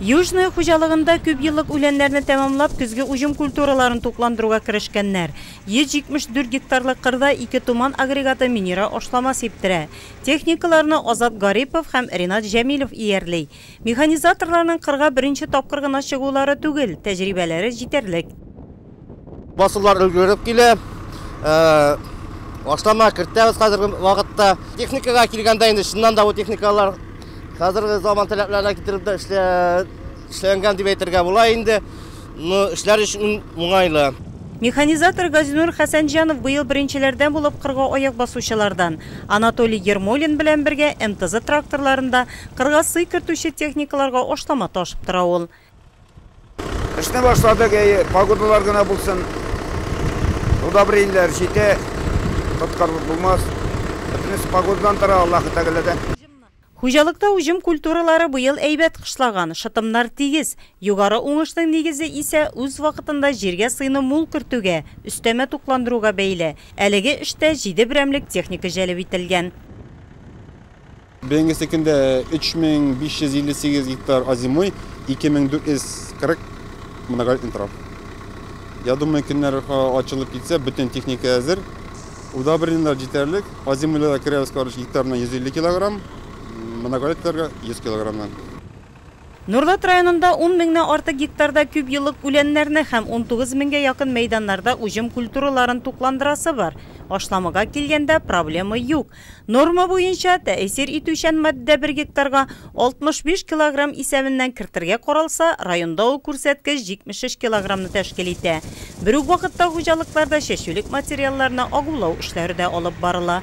Южное хуҗалыгында күпьеллык үләннәрне тәмамлап, көзге уҗым культураларын тукландыруга керешкәннәр. 174 гектарлык кырда ике Туман агрегаты минера ашлама сиптерә. Техникаларны Азат Гарипов һәм Ринат Җәмилов иярли. Механизаторларның кырга беренче тапкыр гына чыгулары түгел, тәҗрибәләре җитәрлек. Басулар өлгереп килә. Ашлама кертәбез хәзерге вакытта. Техникага килгәндә инде чыннан да бу техникалар хәзерге заман таләпләренә китереп дә эшләнгән дип әйтергә була инде. Ну, эшләр өчен уңайлы. Механизатор Газинур Хәсәнҗанов быел беренчеләрдән булып кырга аяк басучылардан. Анатолий Ермолин белән бергә МТЗ тракторларында кырга сый кертүче техникаларга ашлама ташып тора ул. Эшне башладык, әйе, погодалар гына булсын. Удобрениеләр җитә, тоткарлык булмас. Бөтенесе погодадан тора, Аллаһы Тәгаләдән. Хуҗалыкта уҗым культуралары быел әйбәт кышлаган, шытымнар тигез. Югары уңышның нигезе исә үз вакытында җиргә сыйны мул кертүгә, өстәмә тукландыруга бәйле. Әлеге эштә җиде берәмлек техника җәлеп ителгән. Быелгы секендә 3558 гектар озимой, 2440 моногольд интрав. Я думаю, көннәр ачылып китсә, бөтен техника әзер. Удобренилар җитәрлек. Озимойларда керәбез, короче, гектарына 150 килограмм, моногольдларга 100 килограммнан. Нурлат районында ун меңнән артык гектарда күп еллык үләннәрне һәм унтугыз меңгә якын мәйданнарда уҗым культураларын тукландырасы бар. Ашламага килгәндә, проблема юк. Норма буенча, тәэсир итүчән матдә бер гектарга 65 килограмм исәбеннән кертергә каралса, районда ул күрсәткеч 73 килограммны тәшкил итә. Бер үк вакытта хуҗалыкларда чәчүлек материалларны агулау эшләре дә алып барыла.